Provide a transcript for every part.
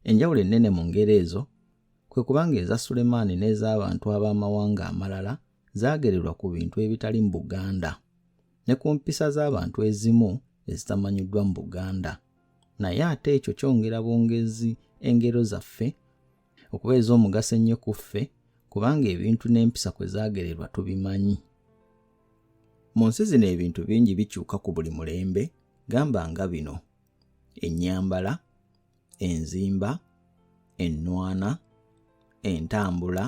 Enjawulo ennene mu ngero ezo kwe kubanga eza Sulemaani n'ez'abantu ab'amawanga amalala zaagererwa ku bintu ebitali mu Buganda ne ku mpisa z'abantu ezimu ezitamanyiddwa mu Buganda. Naye ate ekyo kyongera bwongezi engero zaffe okuba ez'omugaso ennyo ku ffe kubanga ebintu n'empisa kwe zaagererwa tubimanyi. Mu nsi zino ebintu bingi bikyuka ku buli mulembe gamba nga bino, ennyambala, enzimba ennwana entambula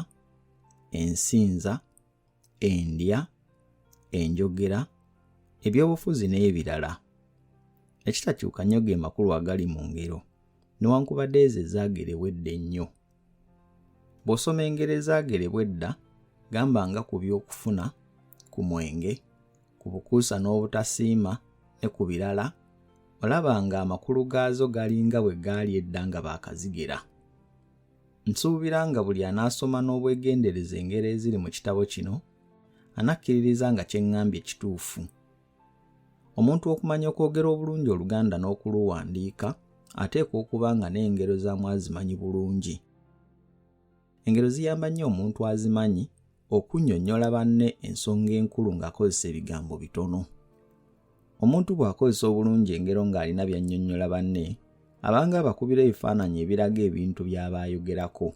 ensinza endya enjogera ebyobufuzi n'ebirala ekitakyuka nnyo ge makulu agali mu ngero newankubadde ezo ezaagerewa edda ennyo Bw'osoma engero ezaagerebwa edda, gamba nga ku by'okufuna, ku mwenge, ku bukuusa n'obutasiima ne ku birala, olaba ng'amakulu gaazo galinga bwe gaali edda nga baakazigera. Nsuubira nga buli anaasoma n'obwegendereza engero eziri mu kitabo kino, anakkiririza nga kye ŋŋambye kituufu Omuntu okumanya okwogera obulungi Oluganda n'okuluwandiika ateekwa okuba nga n'engero za mwazimanyi bulungi. Engero ziyamba nnyo omuntu azimanyi okunnyonnyola banne ensonga enkulu ng'akozesa ebigambo bitono. Omuntu bw'akozesa obulungi engero ng'alina by'annyonnyola banne, abanga abakubira ebifaananyi ebiraga ebintu by'aba ayogerako.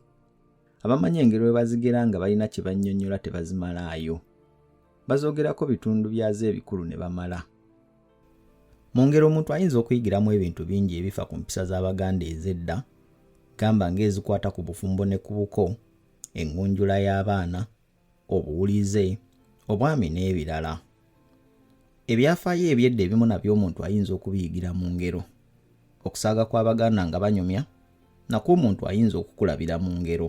Abamanyi engero bwe bazigera nga balina kye bannyonnyola tebazimalaayo. bazoogerako bitundu byazo ebikulu ne bamala mu ngeri omuntu ayinza okuyigiramu ebintu bingi ebifa ku mpisa z'abaganda ez'edda gamba ng'ezikwata ku bufumbo ne ku buko engunjula y'abaana obuwulize obwami n'ebirala ebyafaayo ebyedda ebimu nabyo omuntu ayinza okubiyigira mu ngero okusaaga kw'abaganda nga banyumya nakwo omuntu ayinza okukulabira mu ngero